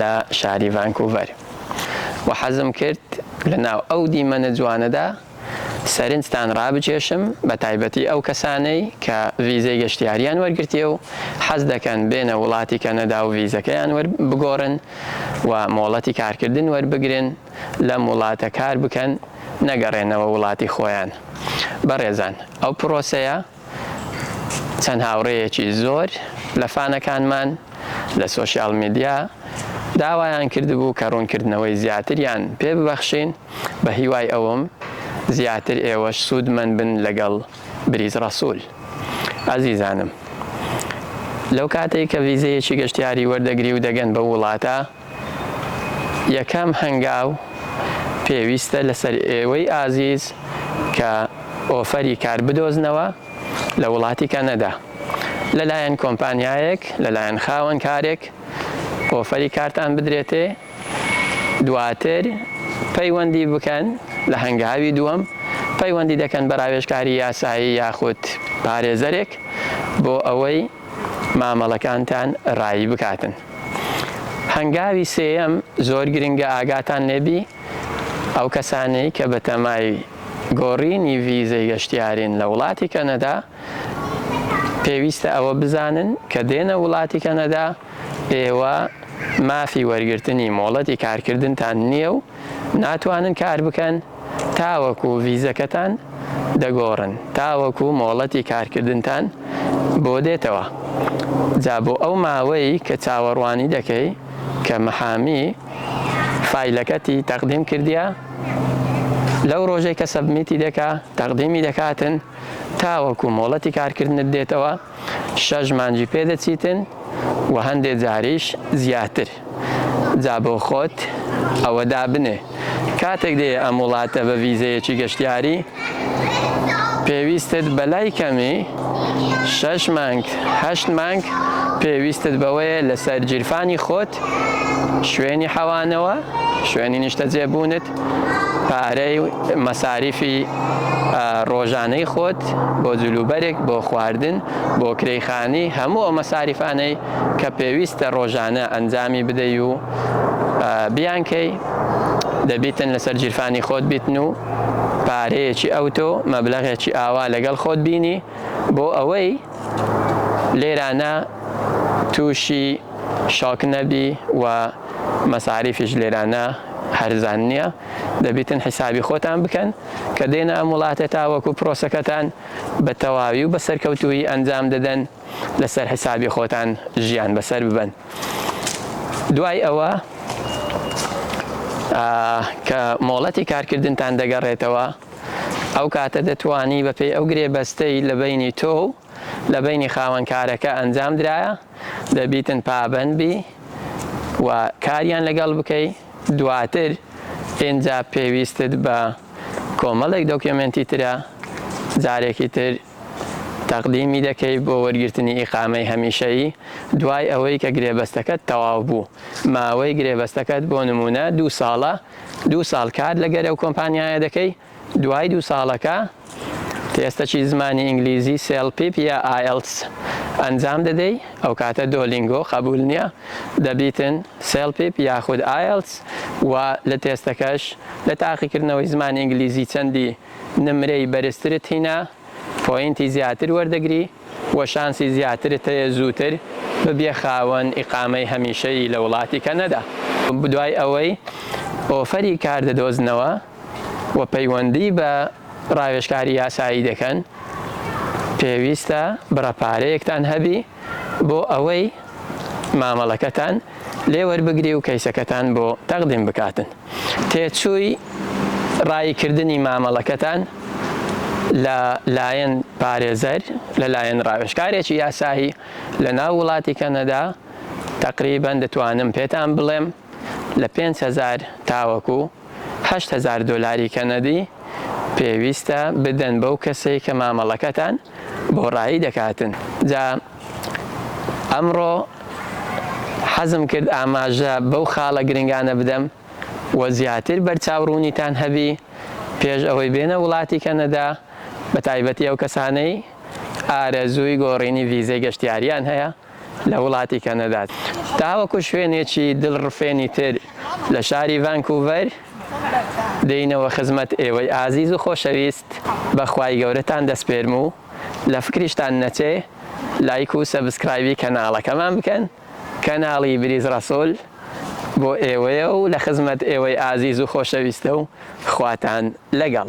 لە شاری ڤانکوڤەر و حەزم کرد لە ناو ئەو دیمەنە جوانەدا سەرنجتان ڕابکێشم بە تایبەتی ئەو کەسانەی کە ڤیزەی گەشتیاریان وەرگرتیە و حەز دەکەن بێنە وڵاتی کەنەدا و ڤیزەکەیان وەر بگۆڕن و مۆڵەتی کارکردن وەربگرن لەم وڵاتە کار بکەن نەگەڕێنەوە وڵاتی خۆیان بەڕێزان ئەو پڕۆسەیە چەند هاوڕێیەکی زۆر لە فانەکانمان لە سۆشیال میدیا داوایان کردبوو کە ڕوونکردنەوەی زیاتریان پێ ببەخشین، بە هیوای ئەوەم زیاتر ئێوەش سوودمەند بن لەگەڵ بریز ڕەسوول. ئەزیزانم لەو کاتەی کە ڤیزەیەکی گەشتیاری وەردەگری و دەگەن بەو وڵاتە، یەکەم هەنگاو پێویستە لەسەر ئێوەی ئازیز کە ئۆفەری کار بدۆزنەوە لە وڵاتی کەنەدا لەلایەن کۆمپانیایەک لەلایەن خاوەن کارێک ئۆفەری کارتان بدرێتێ دواتر پەیوەندی بکەن لە هەنگاوی دووەم پەیوەندی دەکەن بە راوێژکاری یاسایی یاخود پارێزەرێک بۆ ئەوەی مامەڵەکانتان رایی بکاتن. هەنگاوی سێیەم زۆر گرنگە ئاگاتان لێبی ئەو کەسانەی کە بەتەمای گۆڕینی ڤیزەی گەشتیارین لە وڵاتی کەنەدا پێویستە ئەوە بزانن کە دێنە وڵاتی کەنەدا ئێوە مافی وەرگرتنی مۆڵەتی کارکردنتان نییە و ناتوانن کار بکەن تاوەکو ڤیزەکەتان دەگۆڕن تاوەکو مۆڵەتی کارکردنتان بۆ دێتەوە جا بۆ ئەو ماوەی کە چاوەڕوانی دەکەی کە محامی فایلەکەتی تەقدیم کردیا لەو ڕۆژەی کە سەبمیتی دەکا تەقدیمی دەکاتن تاوەکو مۆڵەتی کارکردنت دێتەوە شەش مانگی پێ دەچیتن و هەندێ جاریش زیاتر جا بۆ خۆت ئەوە دابنێ کاتێک دێ ئەم وڵاتە بە ڤیزەیەکی گەشتیاری پێویستت بەلای کەمی شەش مانگ هەشت مانگ پێویستت بەوەیە لەسەر جیرفانی خۆت شوێنی حەوانەوە شوێنی نیشتەجێبوونت پارەی مەساریفی ڕۆژانەی خۆت بۆ جلوبەرێک بۆ خواردن بۆ کرەی خانی هەموو ئەو مەساریفانەی کە پێویستە ڕۆژانە ئەنجامی بدەی و بیانکەی دەبیتن لەسەر جیرفانی خۆت بیتن و پارەیەکی ئەوتۆ مەبلغێکی ئاوا لەگەڵ خۆت بینی بۆ ئەوەی لێرانە تووشی شاک نەبی و مەساریفیش لێرانە هەرزان نیە دەبیتن حیسابی خۆتان بکەن کە دێنە ئەم وڵاتە تاوەکو پرۆسەکەتان بە تەواوی و بە سەرکەوتوویی ئەنجام دەدەن لەسەر حیسابی خۆتان ژیان بەسەر ببەن دوای ئەوە کە مۆڵەتی کارکردنتان دەگەڕێتەوە ئەو کاتە دەتوانی بەپێی ئەو گرێبەستەی لە بینی تۆ و لە بینی خاوەنکارەکە ئەنجام درایە دەبیتن پابەند بی و کاریان لەگەڵ بکەی دواتر ئینجا پێویستت بە کۆمەڵێک دۆکیۆمێنتی ترە جارێکی تر تەقدیمی دەکەی بۆ وەرگرتنی ئیقامەی هەمیشەیی دوای ئەوەی کە گرێبەستەکەت تەواو بوو ماوەی گرێبەستەکەت بۆ نمونە دوو ساڵە دوو ساڵ کار لەگەرەو کۆمپانیایە دەکەی دوای دوو ساڵەکە تێستەکی زمانی ئینگلیزی سێڵپیپ یا ئایڵتس ئەنجام دەدەی ئەوکاتە دۆلینگۆ قەبول نییە دەبیتن سێڵپیپ یاخود ئایڵتس و لە تێستەکەش لە تاقیکردنەوەی زمانی ئینگلیزی چەندی نمرەی بەرزترت هینا پۆینتی زیاتر وەردەگری و شانسی زیاترت هەیە زووتر ببیە خاوەن ئیقامەی هەمیشەیی لە وڵاتی کەنەدا. دوای ئەوەی ئۆفەری کار دەدۆزنەوە. و پەیوەندی بە ڕاوێژکاری یاسایی دەکەن، پێویستە بڕە پارەیەکتان هەبی بۆ ئەوەی مامەڵەکەتان لێ وەربگری و کەیسەکەتان بۆ تەقدیم بکاتن. تێچووی ڕایی کردنی مامەڵەکەتان لە لایەن پارێزەر لە لایەن ڕاوێژکارێکی یاسایی لە ناو وڵاتی کەنەدا تەقریبەن دەتوانم پێتان بڵێم، لە پێنج هەزار تاوەکو هەشت هەزار دۆلاری کەنەدی پێویستە بدەن بەو کەسەی کە مامەڵەکەتان بۆ ڕایی دەکاتن جا ئەمڕۆ حەزم کرد ئاماژە بەو خاڵە گرنگانە بدەم و زیاتر بەرچاو ڕوونیتان هەبی پێش ئەوەی بێنە وڵاتی کەنەدا بە تایبەتی ئەو کەسانەی ئارەزووی گۆڕینی ڤیزەی گەشتیاریان هەیە لە وڵاتی کەنەدا تاوەکو شوێنێکی دڵڕفێنی تر لە شاری ڤانکوڤەر دێینەوە خزمەت ئێوەی ئازیز و خۆشەویست بە خوای گەورەتان دەسپێرم و لە فکریشتان نەچێ لایک و سەبسکرایبی کەناڵەکەمان بکەن کەناڵی بریز ڕەسوڵ بۆ ئێوەیە و لە خزمەت ئێوەی ئازیز و خۆشەویستە و خواتان لەگەڵ.